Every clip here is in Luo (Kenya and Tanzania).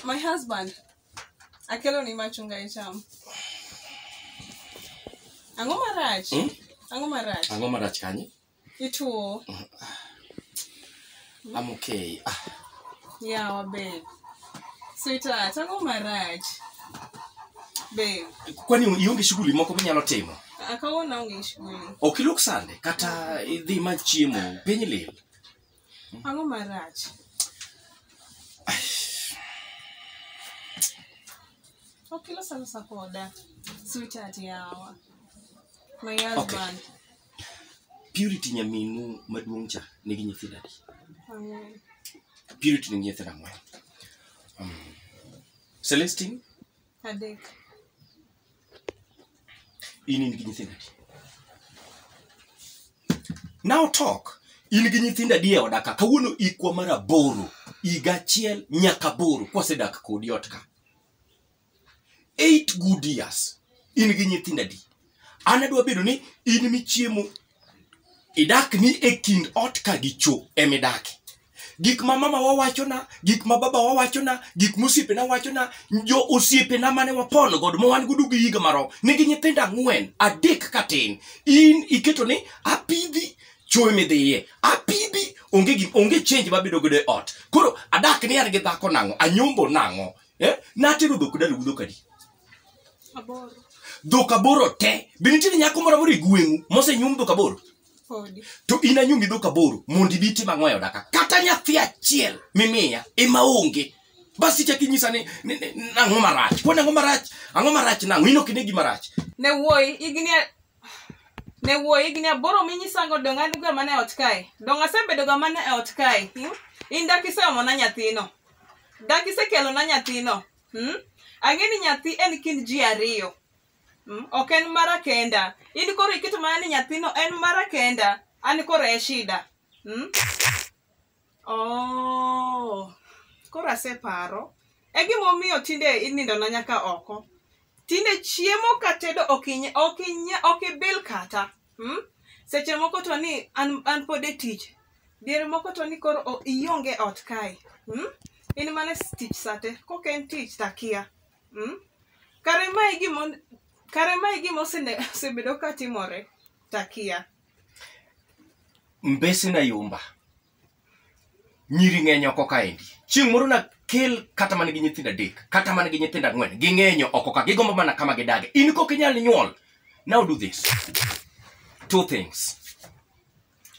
My husband akelo ni machunga icham. Ang'o marach? Hmm? Ang'o marach? Ang'o marach kanye? Ituo. I'm okay. Ah, Yawa babe. Sweetheart, ang'o marach? Babe, kwani ionge shughuli moko minyalo timo? ah, kawuono onge shughuli. Ok ilok sande kata idhi ma chiemo piny lil. Ang'o marach? Ok ilosa losa koda. Sweetheart yawa. My husband. Purity nyaminu maduong' cha nigi nyithindo adi? Ang'wen. Purity nigi nyithindo ang'wen. Um, Celestine, Adek. in in gi nyithindo adi? Now talk. In gi nyithindo adi e oda ka? Kawuono ikwa mar aboro. Higa achiel nyaka aboro kwasedak kodi ot ka. eight good years in gi nyithindo adi an adwa bedo ni in michiemo idak ni e kind ot ka gi cho emidake gik ma mama wawachona gik ma baba wawachona gik mosiepena wachona jo osiepena mane wapon godo ma wan godo gi higa maro nigi nyithindo ang'wen adek katin in iketo ni apidhi choe midhiye apidhi onge gi onge change mabedo godo e ot koro adak ni an gi dhako nang'o anyombo nang'o eh? natero dhok dala gu dhok adi Aboro. dhok aboro te be nitiere nyako moro amoro e gweng'u mosenyum dhok aboro Podi. to in anyumi dhok aboro mondo ibi itim ang'o e oda ka kata nyathi achiel mimiya ema onge bas ichak inyisa ni ni- ni- ni- nang'o marach kwani ang'o marach ang'o marach nang'o in ok ine gima rach Ne wuoyi, igni ne wuo higni aboro minyisango dong an ga mana e ot kae dong asebedo ga mana e ot kae hmm? in dak iseomona nyathino dak isekelona nyathino hmm? ang'e ni nyathi en kind ji ariyo hmm? ok en mara kenda in koro iketo mana ni nyathino en mara kenda an koro e shida hmm? Oh, koro aseparo. E gimomiyo tinde inindona nyaka oko. Tinde chiemo ka tedo ok inya- ok inya- ok ibil kata. Hmm? Seche moko to ni an, an pod e tich. Diere moko to ni koro o- ionge ot kae. Hmm? In mana e tich sate. Kok en tich takia. Hmm? Kare mae gimo kare mae gima osene- osebedo ka timore. takia mbese na yumba nyiri ng'eny oko kaendi chieng' moro nakel kata mana gi nyithindo adek kata mana gi nyithindo ang'wen ging'enyo oko ka gigombo mana kama gidage in kok inyal nyuol now do this two things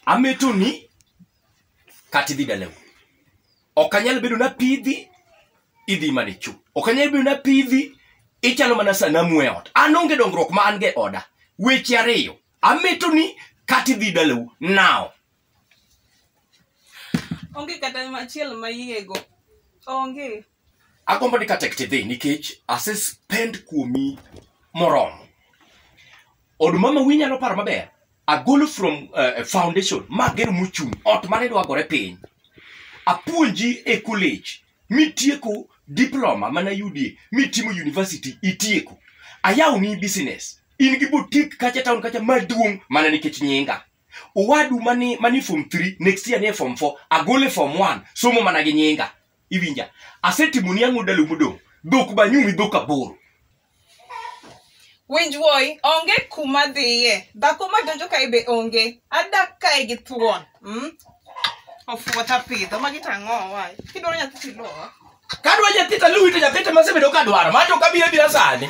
ametoni kata idhi dalau ok anyal bedo na pidhi idhi mana ichu ok anyal bedo na pidhi ichalo mana sanamu e ot an onge dongruok ma an ge oda weche ariyo ameto ni kati dhi dalau now onge kata machiel ma yiego onge agombo ni katek tidhi nikech ase spend kuomi moromo od mama wi nyalo paro maber agolo from uh, foundation mager mochung' ot mane dwagore piny apuonji e college mitieko diploma mana yudie mitimo university itieko ayawni business in gi botik kacha town kacha maduong' mana nikech nyinga owadu mani mani form 3 next year ne form 4 agole form 1 somo mana gi nyinga iwinja asetimoni ang'o dalu modong' dhok banyumi dhok aboro winj wuoyi onge kuma dhiye dhako ma donjo kae be onge adak kae gi thuon mm? ofuota pidho magi to ang'o wae kidwaro nyathi tilowa kadwa nyathi taluwito nyathi to masebedo kadwaro mato kabiro abira sani